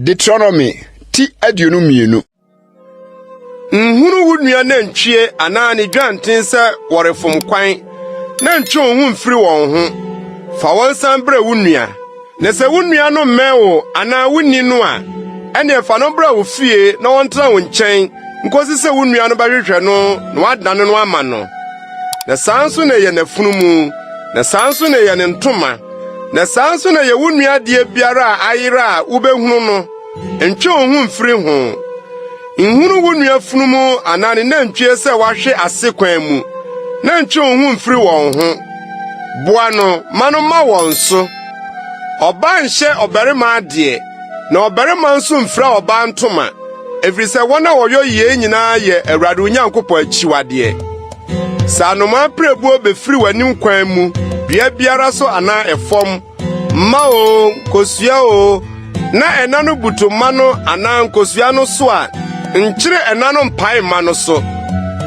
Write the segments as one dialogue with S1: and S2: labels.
S1: Deuteronomy ti aduonu mmienu. Nhunu wo nua nantwie anaa ne dwanten sɛ wɔrefom kwan, na ntwe wo ho mfiri wɔn ho. Fa wɔn san brɛ wo nua. Na sɛ wo nua no mmɛn wo anaa wunni no a, ɛnneɛ fa no bra wo fie na ɔntena wo nkyɛn nkosi sɛ wo nua no bɛhwehwɛ no na wadane no ama no. Na saa nso na ɛyɛ n'afunumu, na saa nso na ɛyɛ ne ntoma, na saa nso na ɛyɛ wo nua adeɛ biara a ayera a wobɛhunu no. Ntwe wo ho mfiri ho. Nhunu wo nua funumu anaa ne nantwie sɛ wahwe ase kwan mu, na ntwe wo ho mfiri wɔn ho. Boa no ma no mma wɔn so. Ɔbaa nhyɛ ɔbarima adeɛ, na ɔbarima nso mfira ɔbaa ntoma, ɛfiri sɛ wɔn a wɔyɔ yei nyinaa yɛ Awurade Onyankopɔn akyiwadeɛ. Sɛ anomaa pirebuo bɛfiri w'anim kwan mu dua biara so anaa ɛfam, mma o, nkosua o, na ɛna no butu mma no anaa nkosua no so a, nkyere ɛna no mpae mma no so,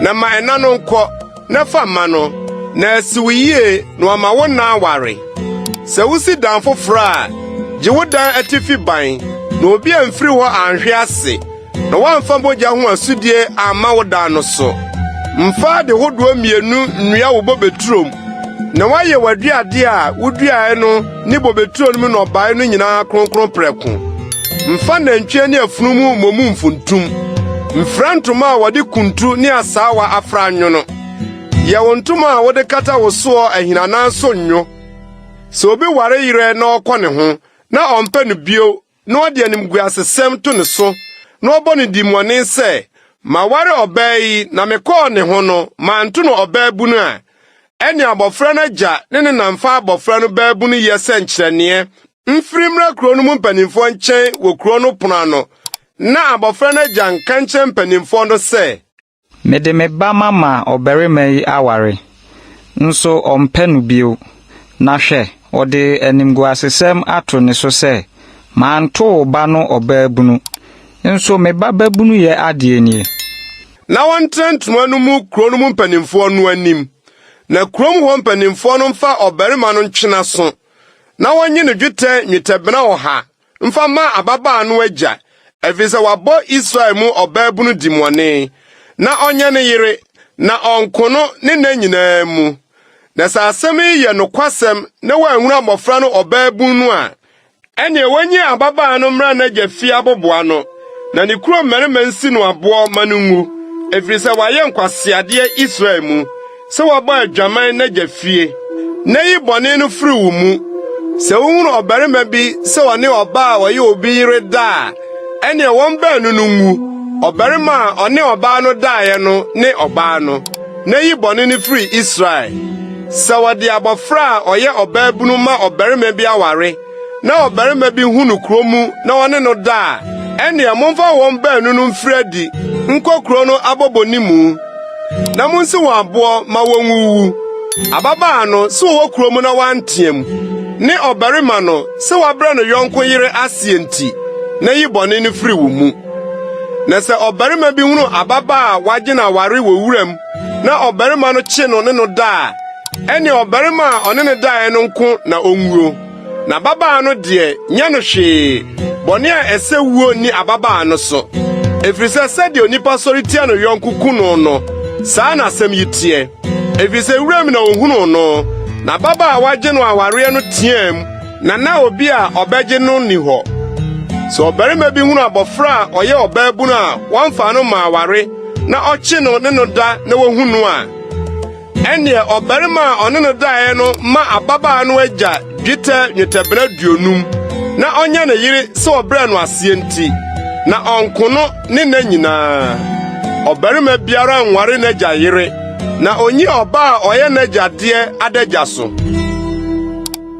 S1: na ma ɛna no nkɔ. na fa ma no na asi wo yie na wama wo nna aware. Sɛ wusi dan foforo a, gye wo dan atifi ban na obi amfiri hɔ anhwe ase na woamfa mogya ho asudie amma wo dan no so. Mfa ade hodoɔ mmienu nnua wo bobeturo mu na woayɛ w'aduadeɛ a woduaeɛ no ne bobeturo no mu nnɔbaeɛ no nyinaa kronkron prɛko. Mfa nantwie ne afunumu mmɔ mu mfuntum. Mfira ntoma a wɔde kuntu ne asaawa afra nwo no. Yɛ wo ntoma a wode kata wo soɔ ahinanan so nwo. Sɛ obi ware yerɛ na ɔkɔ ne ho na ɔmpɛ no bio na ɔde animguasesɛm to ne so na ɔbɔ no dimmɔne sɛ, Maware ɔbaa yi na mekɔɔ ne ho no manto no ɔbaabunu a, ɛnneɛ abɔfra no agya ne ne na mfa abɔfra no baabunuyɛ sɛ nkyerɛneɛ Mfiri mmra kurow no mu mpanimfoɔ nkyɛn wɔ kurow no pono ano, na abɔfra no agya nka nkyerɛ mpanimfoɔ no sɛ. Mede me
S2: ba mama ɔbarima yi aware, nso ɔmpɛ no bio, na hwɛ, ɔde animguasesɛm ato ne so sɛ, 'Manto wo ba no ɔbaabunu, nso me ba babunuyɛ adeɛ nie. Na
S1: wɔntena ntoma no mu kurow no mu mpanimfoɔ no anim, na kurom hɔ mpanimfoɔ no mfa ɔbarima no ntwenaso. na wɔnye no dwetɛ nnwetɛbena ɔha mfa mma ababaa no agya, ɛfiri sɛ wabɔ Israel mu ɔbaabunu dimmɔne, na ɔnyɛ ne yere, na ɔnko no ne nna nyinaa mu. Na sɛ asɛm yi yɛ nokwasɛm na wanhunu abɔfra no ɔbaabun no a, ɛnneɛ wɔnyi ababaa no mmra n'agya fie aboboa no, na ne kurom mmarima nsi no aboɔ ma no nwu, ɛfiri sɛ wayɛ nkwaseadeɛ Israel mu. sɛ woabɔ adwaman n'agya fie, na yi bɔne no firi wo mu. Sɛ wohunu ɔbarima bi sɛ ɔne ɔbaa a ɔyɛ obi yere da a, ɛnneɛ wɔn baanu no nwu. Ɔbarima a ɔne ɔbaa no daeɛ no ne ɔbaa no, na yi bɔne no firi Israel. Sɛ wɔde abɔfra a ɔyɛ ɔbaabunu ma ɔbarima bi aware na ɔbarima bi hu no kurow mu na ɔne no da a, ɛnneɛ momfa wɔn baanu no mfiri adi nkɔ kurow no abɔbɔ ne mu, na munsi wɔn aboɔ ma wɔnwuwu. Ababaa no, sɛ ɔwɔ kurow mu na wanteam, ne ɔbarima no, sɛ wabrɛ no yɔnko yere aseɛ nti, na yi bɔne no firi wo mu. Na sɛ ɔbarima bi hunu ababaa a wagye no aware wɔ wuram na ɔbarima no kye no ne no da a, ɛne ɔbarima a ɔne no daeɛ no nko na ɔnwuo, na ababaa no deɛ nyɛ no hwee, bɔne a ɛsɛ wuo nni ababaa no so. Ɛfiri sɛ sɛdeɛ onipa sɔre tia no yɔnko ku no no, saa na asɛm yi teɛ. Ɛfiri sɛ wuram na ɔhunuu no, na ababaa a wagye no awareɛ no teaam, na na obi a ɔbɛgye no nni hɔ. Sɛ ɔbarima bi hunu abɔfra a ɔyɛ ɔbaabunu a wɔmfa no mma aware na ɔkye no ne no da na wɔhu no a, Ɛnneɛ ɔbarima a ɔne no daeɛ no ma ababaa no agya dwetɛ nnwetɛbena aduonum na ɔnyɛ ne yere sɛ ɔbrɛ no aseɛ nti, na ɔnko no ne nna nyinaa. Ɔbarima biara nware n'agya yere, na ɔnyi ɔbaa a ɔyɛ n'agya deɛ adagya so.